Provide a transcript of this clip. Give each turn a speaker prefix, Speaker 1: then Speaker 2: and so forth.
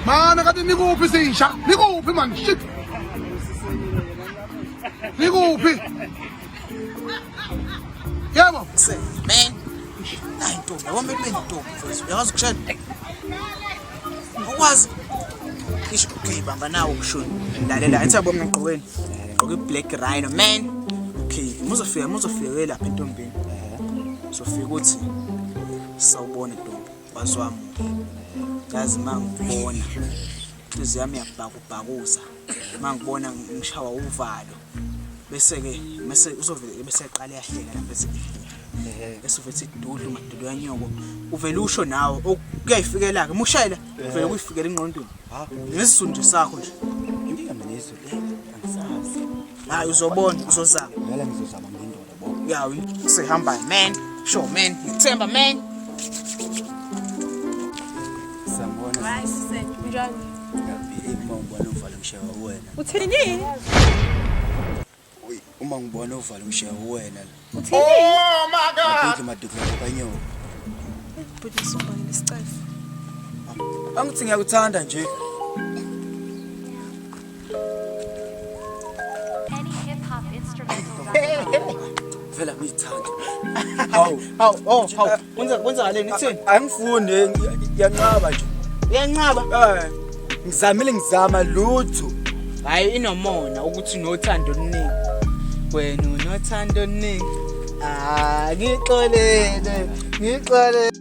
Speaker 1: Mana kade nikuphi sisha? Nikuphi man? Shit. Nikuphi? Yebo. Man.
Speaker 2: Hayi ntombi, yabona bethi bentombi mfowethu. Uyazi ukushela. Ukwazi. Isho okay bamba nawo ukushona. Lalela, athi yabo mina ngigqokeni. Ngigqoke black rhino man. Okay, muzofika muzofika lapha entombini. Sofika uthi sawubona ntombi. waziwamuke yazi uma ngikubona inhliziyo yami yabhakubhakuza uma ngibona ngishawa uvalo bese-ke mese uzovele beseqala yahleka la bese bese uvele ethi dudlu madudu yanyoko uvele usho nawe kuyayifikela-ke uma ushayela uvele kuyifikela engqondweni ngesizulu nje sakho nje inkinga mina
Speaker 3: izulu angisazi hayi
Speaker 2: uzobona uzozama ngeke ngizozama
Speaker 3: ngendoda yawi sihamba
Speaker 2: man sure man ngithemba man
Speaker 3: sambona right sise
Speaker 4: njalo uma
Speaker 3: ubona uvalo mshewa wena uthini uma ngibona uvalo mshewa wena uthini oh
Speaker 4: my
Speaker 1: god uthi maduka kanyoka
Speaker 4: bhuti sumba ngisicafu
Speaker 3: angithi ngiyakuthanda nje
Speaker 5: vela
Speaker 3: ngiyithanda hawu
Speaker 2: hawu oh hawu kwenza kwenzakaleni kuthini angifundi
Speaker 3: ngiyanqaba nje uyanqaba eh
Speaker 2: ngizamile
Speaker 3: ngizama lutho hayi
Speaker 2: inomona ukuthi nothando oluningi wena unothando oluningi ah ngixolele ngixolele